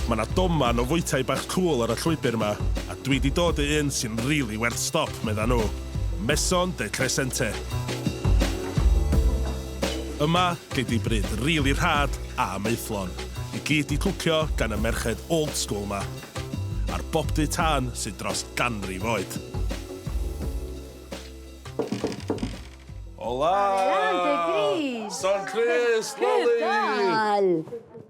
Ma na doman o fwytai bach cŵl ar y llwybr ma, a dwi di dod i un sy'n rili werth stop, medda nhw. Maison de Crescente. Yma, gei di bryd rili rhad a maethlon, i gyd di cwcio gan y merched old school ma, a'r bobdy tân sy dros ganrif oed. Hola! Hola, Dei Gris! San Crist, Loli! Cwpl!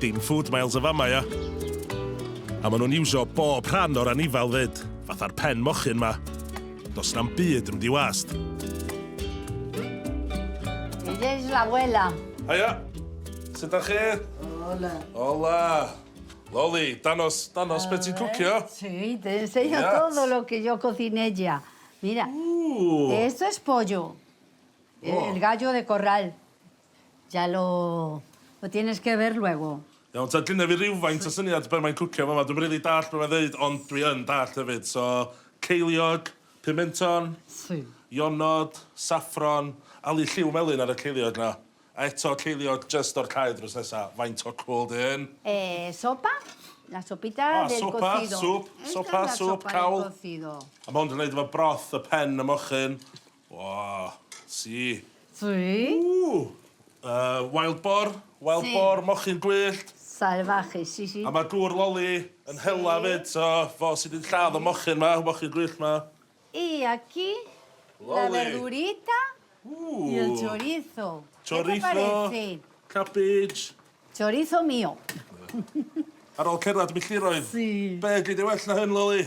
Dim food miles yn fan 'ma, ia? A ma' nhw'n iwsio bob rhan o'r anifail 'fyd, fatha'r pen mochyn 'ma. Does 'na'm byd yn mynd i wast. Here's la abuela. Haia! Sut 'dach chi? Hola. Hola! Loli, dangos, dangos be' ti'n cwcio. Sí, te enseño Yes. todo lo que yo cociné ya. Mira, Ww! esto es pollo. Oh. El gallo de corral. Jalo! Wyt ti'n ysgyfyr, Luego? Iawn ta, gynna fi rywfaint o syniad be mae'n cwcio fama, dwi'm rili dallt be mae'n ddeud ond dwi yn dallt hefyd, so ceiliog, pimenton, Si. ionod, saffron, ali lliw melyn ar y ceiliog 'na, a eto ceiliog jyst o'r cae drws nesa, faint o cwl 'di hyn? Eh, sopa, la sopita del cocido. O, sopa, swp, sopa, swp, cawl. A ma' hwn 'di neud efo broth y pen y mochyn. O! Su? Su? Ww! Yy wild boar, wild boar, mochyn gwyllt. Sail fach i si si. A ma gŵr loli yn hela fyd so fo sy di lladd y mochyn ma, mochyn gwyllt ma. Y aquí la verdurita y el chorizo. Chorizo, cabbage. Chorizo mio. Ar ol cerddad milltiroedd. Su. Be gei di well na hyn loli?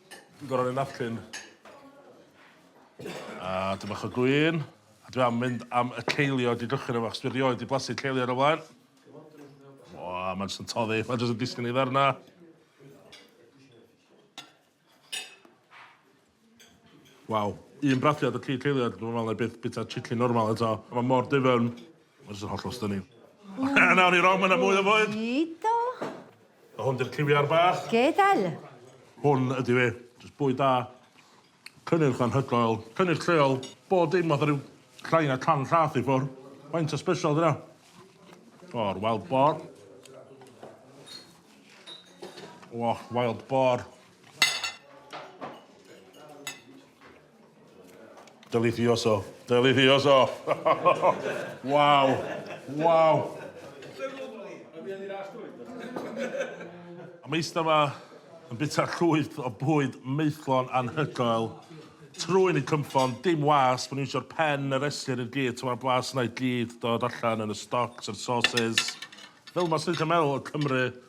Dwi'n gorau rhoi napkin. A dwi bach o gwyn. A dwi am mynd am y ceiliog i gychwyn efo, chos dwi rioed di blasu ceiliog o flaen. O, mae'n jyst yn toddi. Mae'n jyst yn disgyn i ddarna. Waw. Un brathiad o cig ceiliog, dwi'n meddwl na i byth bita chicken normal eto. Mae mor difyrn. Ma' jys yn hollol stunning. A nawr i Rom ma' 'na mwy o fwyd. Dido. A hwn 'di'r ciwiar bach. Gadael. Hwn ydi fe. Jys bwyd da. Cynnyrch anhygoel. Cynnyrch lleol. Bob dim fatha ryw llai na can llath i ffwr'. Faint o sbesial 'di wnna? O'r wild boar. O, wild boar. Delicioso. Delicioso. Waw. Waw. Mae eistedd yma yn bita llwyth o bwyd maethlon anhygoel. Trwyn yn cynffon, dim was, maen nhw'n iwsio'r pen a reslir i'r gyd, mae'r blas yna i gyd dod allan yn y stocks a'r sauces. Fel yma, 'swn i'n gallu meddwl, y Cymry